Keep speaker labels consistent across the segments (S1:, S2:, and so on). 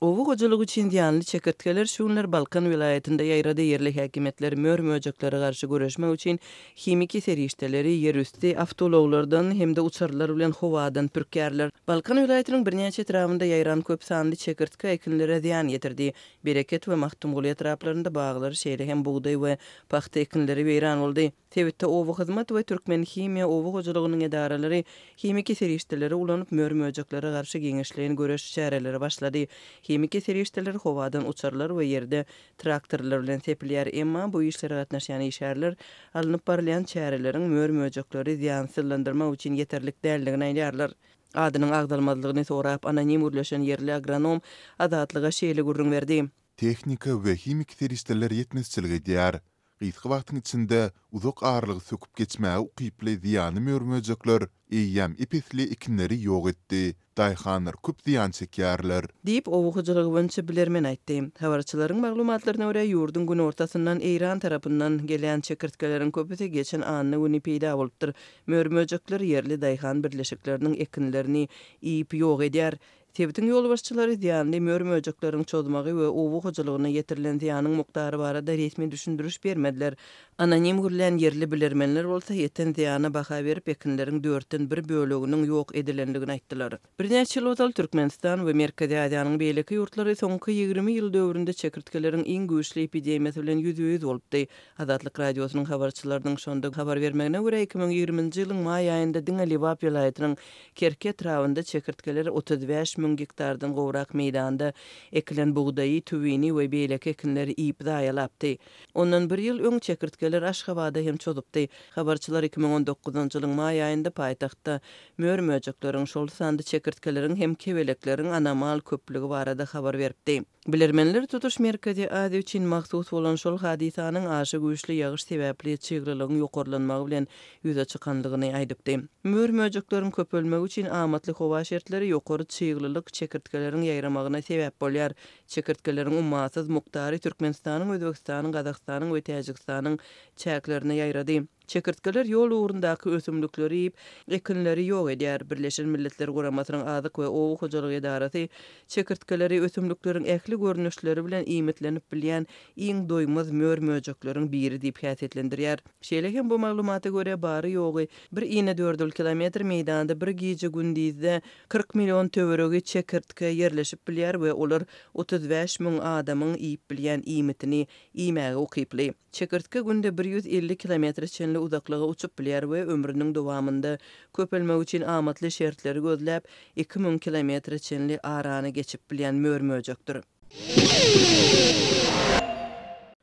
S1: Oba hojalygy üçin zyýanly çekirtgeler şu günler Balkan welaýatynda ýaýrady. Ýerli häkimiýetler mör-möjeklere garşy göreşmek üçin himiki serişdeleri ýerüsti awtoulaglardan hem-de uçarlar bilen howadan pürkýärler. Balkan welaýatynyň birnäçe etrabynda ýaýran köp sanly çekirtge ekinlere zyýan ýetirdi. Bereket we Magtymguly etraplarynda baglar, şeýle hem bugdaý we pagta ekinleri weýran boldy. Sebitde Obahyzmat we Türkmenhimiýa oba hojalygynyň edaralary himiki serişdeleri ulanyp, mör-möjeklere garşy giňişleýin göreş çäreleri başlady. Himiki serişdeler howadan uçarlar we ýerde traktorlar bilen sepilýär, emma bu işlere gatnaşýan işgärler alnyp barylýan çäreleriň mör-möjekleri zyýansyzlandyrmak üçin ýeterlik däldigini aýdýarlar. Adynyň agzalmazlygyny sorap, anonim gürleşen ýerli agronom Azatlyga şeýle gürrüň berdi. Tehnika we
S2: himiki serişdeler ýetmezçilik edýär. Gysga wagtyň içinde uzak aralygy söküp geçmäge ukyply zyýanly mör-möjekler eýýäm ep-esli ekinleri ýok etdi. Daýhanlar köp zyýan çekýärler. Diýip, oba hojalygy boýunça
S1: bilermen aýtdy. Habarçylaryň maglumatlaryna görä, ýurduň günortasyndan Eýran tarapyndan gelýän çekirtgeleriň köpüsi geçen anna güni peýda bolupdyr. Mör-möjekler ýerli daýhan birleşikleriniň ekinlerini iýip ýok edýär. Sebitiň ýolbaşçylary zyýanly mör-möjekleriň çozmagy we oba hojalygyna ýetirilen zyýanyň mukdary barada resmi düşündiriş bermediler. Anonim gürlän ýerli bilermenler bolsa ýeten zyýana baha berip, ekinleriň dörtden bir böleginiň ýok edilendigini aýtdylar. Birnäçe ýyl ozal Türkmenistan we Merkezi Aziýanyň beýleki ýurtlary soňky ýigrimi ýyl döwründe çekirtgeleriň iň güýçli epidemiýasy bilen ýüzbe-ýüz bolupdy. Azatlyk Radiosynyň habarçylarynyň şonda habar bermegine görä, iki müň ýigriminji ýylyň maý aýynda diňe Lebap welaýatynyň Kerki etrabynda çekirtgeler otuz bäş müň gektardan gowrak meýdanda ekilen bugdaýy, tüwini we beýleki ekinleri iýip zaýalapdy. Ondan bir ýyl öň çekirtgeler Aşgabada hem çozupdy. Habarçylar iki müň on dokuzynjy ýylyň maý aýynda paýtagtda mör-möjekleriň, şol sanda çekirtgeleriň hem kebelekleriň anomal köplügi barada habar beripdi. Bilermenler tutuş Merkezi Aziýa üçin mahsus bolan şol hadysanyň aşa güýçli ýagyş sebäpli çyglylygyň ýokarlanmagy bilen ýüze çykandygyny aýdypdy. Mör-möjekleriň köpelmegi üçin amatly howa şertleri ýokary çyglylyk çekirtgeleriň ýaýramagyna sebäp bolýar. Çekirtgeleriň ummasyz mukdary Türkmenistanyň, Özbegistanyň, Gazagystanyň we Täjigistanyň çäklerine ýaýrady. Çekirtgeler ýol ugrundaky ösümlikleri iýip, ekinleri ýok edýär. Birleşen Milletler Guramasynyň Azyk we oba hojalyk edarasy çekirtgeleri ösümlikleriň ähli görnüşleri bilen iýmitlenip bilýän iň doýmaz mör-möjekleriň biri diýip häsiýetlendirýär. Şeýle hem bu maglumata görä, bary-ýogy bir inedördül kilometr meýdanda bir gije-gündizde kyrk million töweregi çekirtge ýerleşip bilýär we olar otuz bäş müň adamyň iýip bilýän iýmitini iýmäge ukyply. Çekirtge günde bir ýüz elli kilometre çenli uzaklyga uçup bilýär we ömrüniň dowamynda köpelmek üçin amatly şertleri gözläp, iki müň kilometre çenli arany geçip bilýän mör-möjekdir.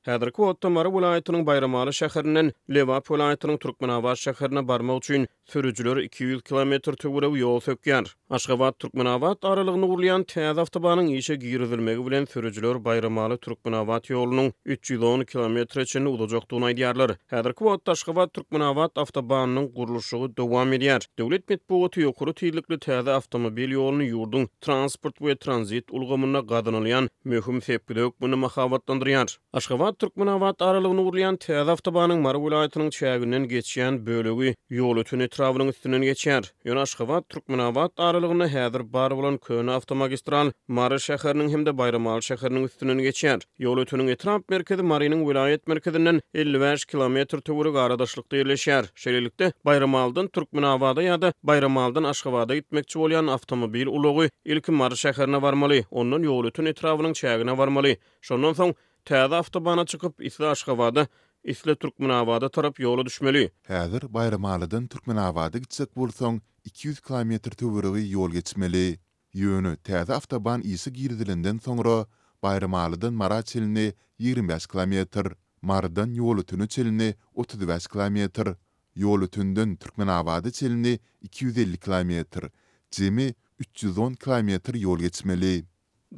S3: Häzirki wagtda Mary welaýatynyň Baýramaly şäherinden Lebap welaýatynyň Türkmenabat şäherine barmak üçin Sürüjiler iki ýüz kilometr töweregi ýol sökýär. Aşgabat, Türkmenabat aralygynda gurulýan täze awtobanyň işe girizilmegi bilen sürüjiler Baýramaly, Türkmenabat ýolunyň üç ýüz on kilometre çenli uzajakdygyny aýdýarlar. Häzirki wagtda Aşgabat, Türkmenabat awtobanynyň gurluşygy dowam edýär. Döwlet metbugaty ýokary tizlikli täze awtomobil ýoluny ýurduň transport we tranzit ulgamynda gazanylýan möhüm sepgide hökmünde mahabatlandyrýar. Aşgabat, Türkmenabat aralygyny urýan täze awtobanyň Mary welaýatynyň çäginden geçýän bölegi Ýolöten etrabynyň üstünden geçýär. Ýöne Aşgabat, Türkmenabat aralygynda häzir bar bolan köne awtomagistral Mary şäheriniň hem-de Baýramaly şäheriniň üstünden geçýär. Ýolöteniň etrap merkezi Marynyň welaýat merkezinden elli bäş kilometr töweregi aradaşlykda ýerleşýär. Şeýlelikde, Baýramalydan Türkmenabada ýa-da Baýramalydan Aşgabada gitmekçi bolýan awtomobil ulagy ilki Mary şäherine barmaly, ondan Ýolöten etrabynyň çägine barmaly, Şondan soň täze awtobana çykyp, isle Aşgabada, isle Türkmenabada tarap ýola düşmeli. Häzir Baýramalydan
S2: Türkmenabada gitjek bolsaň, iki ýüz kilometr töweregi ýol geçmeli. Ýöne täze awtoban işe girizilenden soňra, Baýramalydan Mara çenli ýigrimi bäş kilometr, Marydan Ýolötene çenli otuz bäş kilometr, Ýolötenden Türkmenabada çenli iki ýüz elli kilometr, jemi üç ýüz on kilometr ýol geçmeli.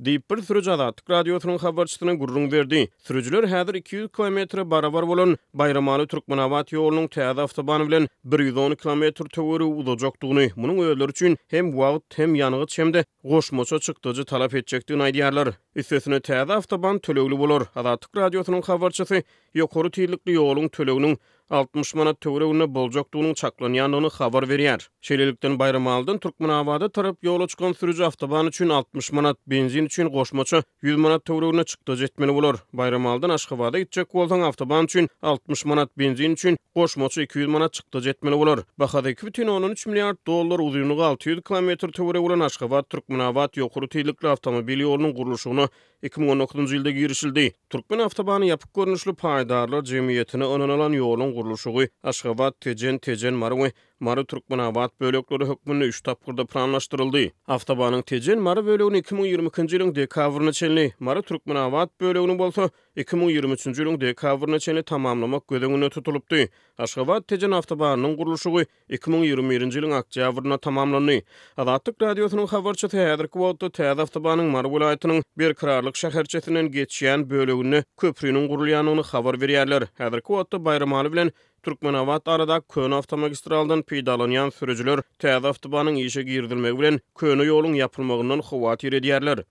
S2: Diýip, bir
S3: sürüji Azatlyk Radiosynyň habarçysyna gürrüň berdi. Sürüjiler häzir iki ýüz kilometre barabar bolan Baýramaly, Türkmenabat ýolunyň täze awtobany bilen bir ýüz on kilometr töweregi uzajakdygyny, munuň özleri üçin hem wagt, hem ýangyç, hem-de goşmaça çykdajy talap etjekdigini aýdýarlar. Üstesine, täze awtoban tölegli bolar. Azatlyk Radiosynyň habarçysy ýokary tizlikli ýoluň töleginiň altmyş manat töwereginde boljakdygynyň çaklanýandygyny habar berýär. Şeýlelikden, Baýramalydan Türkmenabada tarap ýola çykan sürüji awtoban üçin altmyş manat, benzin üçin goşmaça ýüz manat töwereginde çykdajy etmeli bolar. Baýramalydan Aşgabada gitjek bolsaň, awtoban üçin altmyş manat, benzin üçin goşmaça iki ýüz manat çykdajy etmeli bolar. Bahasy iki bütin ondan üç milliard dollar, uzynlygy alty ýüz kilometr töweregi bolan Aşgabat-Türkmenabat ýokary tizlikli awtomobil ýolunyň gurluşygyna Iki müň on dokuzynjy ýylda girişildi. Türkmenawtobany ýapyk görnüşli paýdarlar jemgyýetine ynanylan ýoluň gurluşygy Aşgabat, Tejen, Tejen, Mary we Mary, Türkmenabat bölekleri hökmünde üç tapgyrda planlaşdyryldy. Awtobanyň Tejen, Mary bölegini iki müň ýigrimi ikinji ýylyň dekabryna çenli, Mary, Türkmenabat bölegini bolsa iki müň ýigrimi üçünji ýylyň dekabryna çenli tamamlamak göz öňünde tutulypdy. Aşgabat, Tejen awtobanynyň gurluşygy Iki müň ýigrimi birinji ýylyň oktýabrynda tamamlandy. Azatlyk Radiosynyň habarçysy häzirki wagtda täze awtobanyň Mary welaýatynyň Berkararlyk şäherçesinden geçýän böleginde köpriniň gurulýandygyny habar berýärler. Häzirki wagtda Baýramaly bilen Türkmenabat aradaky köne awtomagistraldan peýdalanýan sürüjiler täze awtobanyň işe girizilmegi bilen köne ýoluň ýapylmagyndan howatyr edýärler.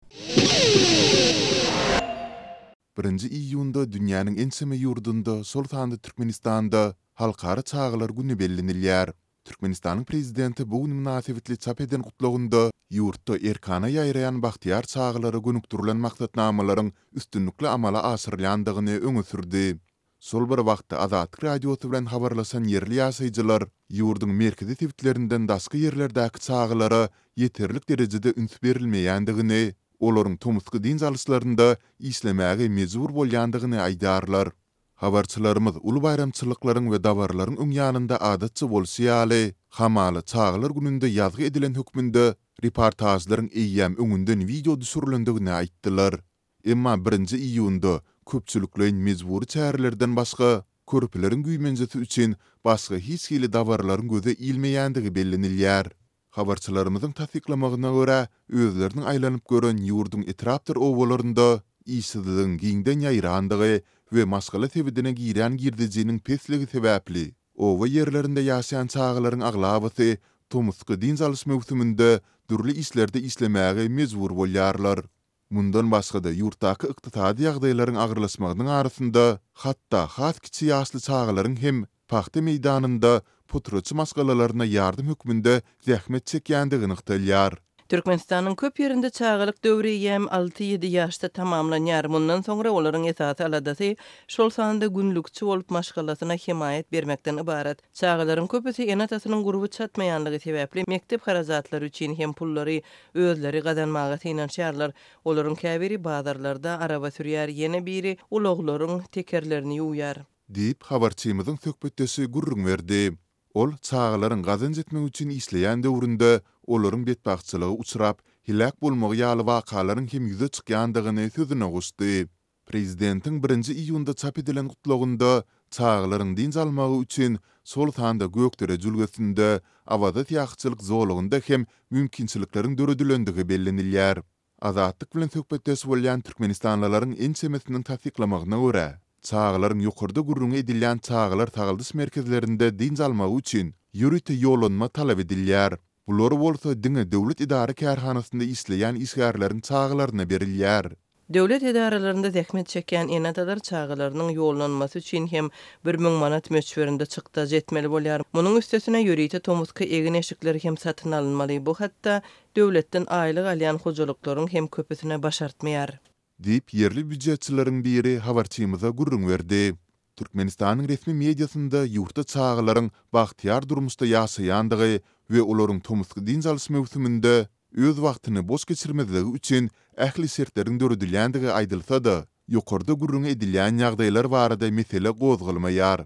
S2: Birinji iýunda dünýäniň ençeme ýurdunda, şol sanda Türkmenistanda Halkara çagalar güni bellenilýär. Türkmenistanyň Prezidenti bu gün mynasybetli çap eden Gutlagynda ýurtda erkana ýaýraýan bagtyýar çagalara gönükdirilen maksatnamalaryň üstünlikli amala aşyrylýandygyny öňe sürdi. Şol bir wagtda Azatlyk Radiosy bilen habarlaşan ýerli ýaşaýjylar ýurduň merkezi sebitlerinden daşky ýerlerdäki çagalara ýeterlik derejede üns berilmeýändigini, olaryň tomusky dynç alyşlarynda işlemäge mejbur bolýandygyny aýdýarlar. Habarçylarymyz uly baýramçylyklaryň we dabaralaryň öň ýanynda adatça bolşy ýaly, hamala Çagalar gününde ýazgy edilen hökmünde reportažlaryň eýýäm öňünden wideo düşürilendigini aýtdylar. Emma birinji iýunda köpçülikleýin mejbury çärelerden başga körpeleriň güýmenjesi üçin başga hiç hili dabaralaryň göze ilmeýändigi bellenilýär. Habarçylarymyzyň tassyklamagyna görä, özleriniň aýlanyp gören ýurduň etrapdyr obalarynda işsizligiň giňden ýaýrandygy we maşgala sebedine girýän girdejiniň pesligi sebäpli, oba ýerlerinde ýaşaýan çagalaryň aglabasy tomusky dynç alyş möwsüminde dürli işlerde işlemäge mejbur bolýarlar. Mundan başga-da, ýurtdaky ykdysady ýagdaýlaryň agyrlaşmagynyň arasynda, hatda has kiçi ýaşly çagalaryň hem pagta meýdanynda puturaçy maşgalalaryna ýardam hökmünde zähmet çekýändigi nygtalýar. Türkmenistanyň köp
S1: ýerinde çagalyk döwri ýäm alty-ýedi ýaşda tamamlanýar, mundan soňra olaryň esasy aladasy, şol sanda günlükçi bolup maşgalasyna hemaýat bermekden ybarat. Çagalaryň köpüsi ene-atasynyň gurby çatmaýanlygy sebäpli mekdep harajatlary üçin hem pullary özleri gazanmaga synanyşýarlar. Olaryň käbiri bazarlarda araba sürýär, ýene biri ulaglaryň tekerlerini ýuwýar. Diýip, habarçymyzyň
S2: söhbetdeşi gürrüň berdi. Ol çagalaryň gazanç etmek üçin işleýän döwründe olaryň betbagtçylyga uçrap, heläk bolmagy ýaly wakalaryň hem ýüze çykýandygyny sözüne goşdy. Prezidentiň birinji iýunda çap edilen Gutlagynda çagalaryň dynç almagy üçin, şol sanda Gökdere jülgesinde, Awaza syýahatçylyk zolagynda hem mümkinçilikleriň döredilendigi bellenilýär. Azatlyk bilen söhbetdeş bolýan türkmenistanlylaryň ençemesiniň tassyklamagyna görä, çagalaryň ýokarda gürrüňi edilýän çagalar sagaldyş merkezlerinde dynç almagy üçin ýörite ýollanma talap edilýär. Bular bolsa diňe döwlet edara-kärhanasynda işleýän işgärleriň çagalaryna berilýär. Döwlet edaralarynda
S1: zähmet çekýän ene-atalar çagalarynyň ýollanmasy üçin hem bir müň manat möçberinde çykdajy etmeli bolýar. Munuň üstesine ýörite tomusky egin-eşikler hem satyn alynmaly. Bu hatda döwletden aýlyk alýan hojalyklaryň hem köpüsine başartmaýar. Diýip, ýerli
S2: býujetçileriň biri habarçymyza gürrüň berdi. Türkmenistanyň resmi mediasynda ýurtda çagalaryň bagtyýar durmuşda ýaşaýandygy we olaryň tomusky dynç alyş möwsüminde öz wagtyny boş geçirmezligi üçin ähli şertleriň döredilýändigi aýdylsa-da, ýokarda gürrüňi edilýän ýagdaýlar barada mesele gozgalmaýar.